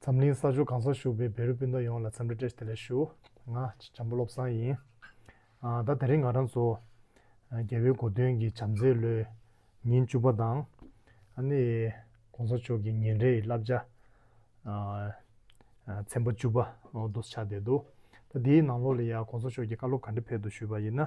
འཛམ་གླིང་ས་ཕྱོགས་གང་སར་བཞུགས་པའི་བེ་རི་སྤུན་ཟླ་ཡོངས་ལ་འཚམས་འདྲི་བཀྲ་ཤིས་བདེ་ལེགས་ཞུ། ང། བྱམས་པ་བློ་བཟང་ཡིན། ད་དེ་རིང་ང་རང་ཚོ། རྒྱལ་བའི་གོ་སྟོན་གྱི་བྱམས་བརྩེའི་ལོའི། ཉིན་བཅུ་པ་དང། ཨ་ནི། གོང་ས་མཆོག་གི་ཉིན་རེའི་བསླབ་བྱ། ཚན་པ་བཅུ་པ། འདུ་བྱ་བསྡད་འདུག་ད་དེའི་ནང་ལོགས་ལ་ཡང་གོང་ས་མཆོག་གིས་བཀའ་སློབ་ག་འདྲི་ཕེབས་འདུག་ཞུས་པ་ཡིན་ན།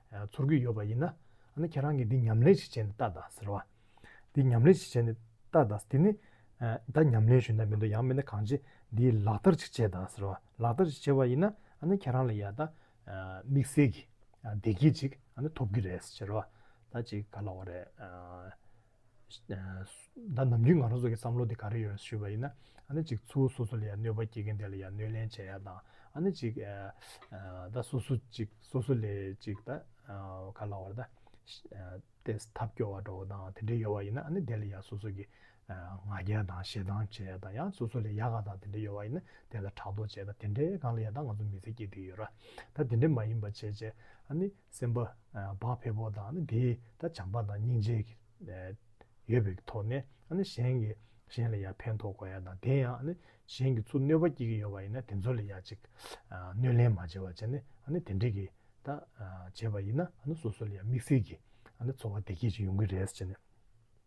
ཚོར་གྱི་ཡོད་པ་ཡིན་ན། ཨ་ནི་ཁྱེད་རང་གིས་འདི་ཉམས་ལེན་ཞིག་བྱས་ནས་ལྟ་དང་ཟེར་བ། འདི་ཉམས་ལེན་ཞིག་བྱས་ནས་ལྟ་དང་དེ་ནི། ད་ཉམས་ལེན་ཞུས་ན་མི་འདུག་ཡང་མིན་ན་གང་བྱེད་འདི་ལག་བསྟར་ཞིག་བྱས་དང་ཟེར་བ། ལག་བསྟར་ཞིག་བྱས་པ་ཡིན་ན་ཨ་ནི་ཁྱེད་རང་ལ་ཡང་ད། དམིགས་བསལ་གྱི་བདེ་སྐྱིད་ཅིག་ཨ་ནི་ཐོབ་ཀྱི་རེད་ཟེར་བ། ད་ཅིག་ག་ལ་བ་རེད། ད་ནམ་རྒྱུན་ང་རང་ཚོ་གི་བསམ་བློ་དེ་ག་རེ་ཡོད་ཞུས་པ་ཡིན་ན་ཨ་ནི་གཅིག་ཚུལ་སོ་སོ་ལ་ཡང་གནོད་པ་བསྐྱེལ་མཁན་དེ་ལ་ཡང་གནོད་ལན་བྱས་ཡ་དང་ཨ་ནི་གཅིག་ད་སོ་སོ་གཅིག་སོ་སོ་ལས་གཅིག་ད་ག་ལ་བར་ད་ལྟས་ཐབས་སྐྱོ་བ་འགྲོ་བ་དང་དེ་འདྲས་ཡོད་བ་ཡིན་ན་ཨ་ནི་དེ་ལ་ཡང་སོ་སོ་གི་ང་རྒྱལ་དང་ཞེ་སྡང་བྱས་ཡ་དང་ཡང་སོ་སོ་ལས་ཡག་ག་དང་དེ་འདྲས་ཡོད་བ་ཡིན་ན་དེ་ལ་ཕྲག་དོག་བྱས་ད་དེ་འདྲས་གང་ལ་ཡང་ད་ང་ཚོ་མི་ཚེ་སྐྱེལ་དུས་ཡོད་ར་ད་དེ་འདྲས་མ་ཡིན་པ་བྱས་བྱས་ཨ་ནི་སེམས་དཔའ་བག་ཕེབས་པོ་དང་དེའི་ད་བྱམས་པ་དང་སྙིང་རྗེ་ཡོད་པའི་ཐོག་ནས་གཞན་གྱི་གཞན་ལ་ཡང་ཕན་ཐོག་དགོས་ཡ་དང་དེ་ཡང་གཞན་གྱི་ཚུར་གནོད་པ་སྐྱེལ་གྱི་ཡོད་པ་ཡིན་ན་དེ་ཚོ་ལ་ཡང་ཅིག་གནོད་ལན་མ་བྱེད་པ་བྱས་ནས་དེ་འདྲི་གི་ད་བྱས་པ་ཡིན་ན་སོ་སོ་ལ་ཡང་དམིགས་བསལ་གྱི་འཚོ་བ་བདེ་སྐྱིད་ཅིག་ཡོང་གི་རེད་ཟེར་ནས།